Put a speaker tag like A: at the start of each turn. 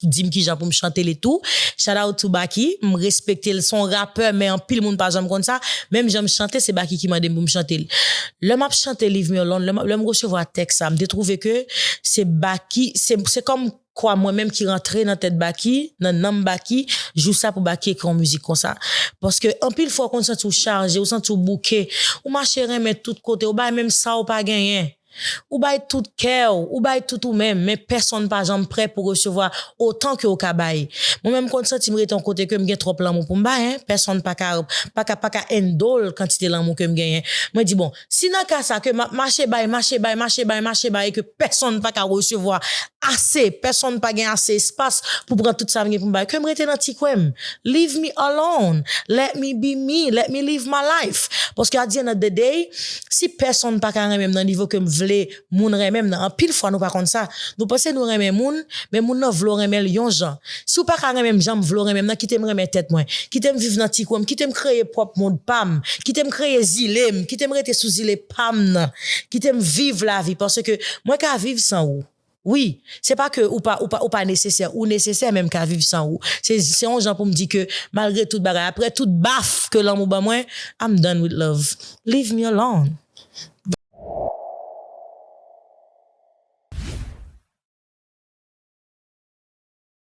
A: Dim kijan poum chante li tou. Shout out to Baky, m respektel son rapè men anpil moun pa janm konn sa, menm janm chante se Baky ki mandem poum chantel. Lè map chante Leave me alone, lè lèm resevwa tèks sa, m te trouve ke se Baky, se se kòm kwa mwen menm ki rantre nan tèt Baky, nan nanm Baky, jou sa pou Baky ekri yon mizik konsa. Paske anpil fwa ou konn santiw chaje, ou santiw bouke, ou mache renmen tout kote, ou bay menm sa ou pa genyen. Ou bay tout kè w, ou bay tout ou menm, men pèsonn pa janm prè pou resevwa otan ke w ka bay. Mwen menm m konn santi m rete yon kote ke m gen twòp lanmou pou m bay, hein, pèsonn pa ka, pa ka, pa ka endol kantite lanmou ke m genyen. Mwen di bon, si nan ka sa ke m ap mache bay, mache bay, mache bay, mache bay e ke pèsonn pa ka resevwa ase, pèsonn pa gen ase espas pou pran tout sa m gen pou m bay, ke m rete nan ti kwen m. Leave me alone, let me be me, let me live my life. Paske at the end of the day, Si pèsonn pa ka renmen m nan nivo ke m vle moun renmen m nan, anpil fwa nou pa konn sa, nou panse nou renmen moun, men moun nan vle w renmen l yon jan. Si w pa ka renmen m jan m vle w renmen m nan, kite m renmen tèt mwen. Kite m viv nan ti kwen m, kite m kreye pwòp mond pa m, kite m kreye zile m, kite m rete sou zile pa m nan, kite m viv lavi, paske mwen ka viv san ou. Wi, se pa ke ou pa, ou pa, ou pa nesesè, ou nesesè men m ka viv san ou. Se, se yon jan pou m di ke malgre tout bagay, aprè tout baf ke lanmou ban mwen, I'm done with love. Leave me alone.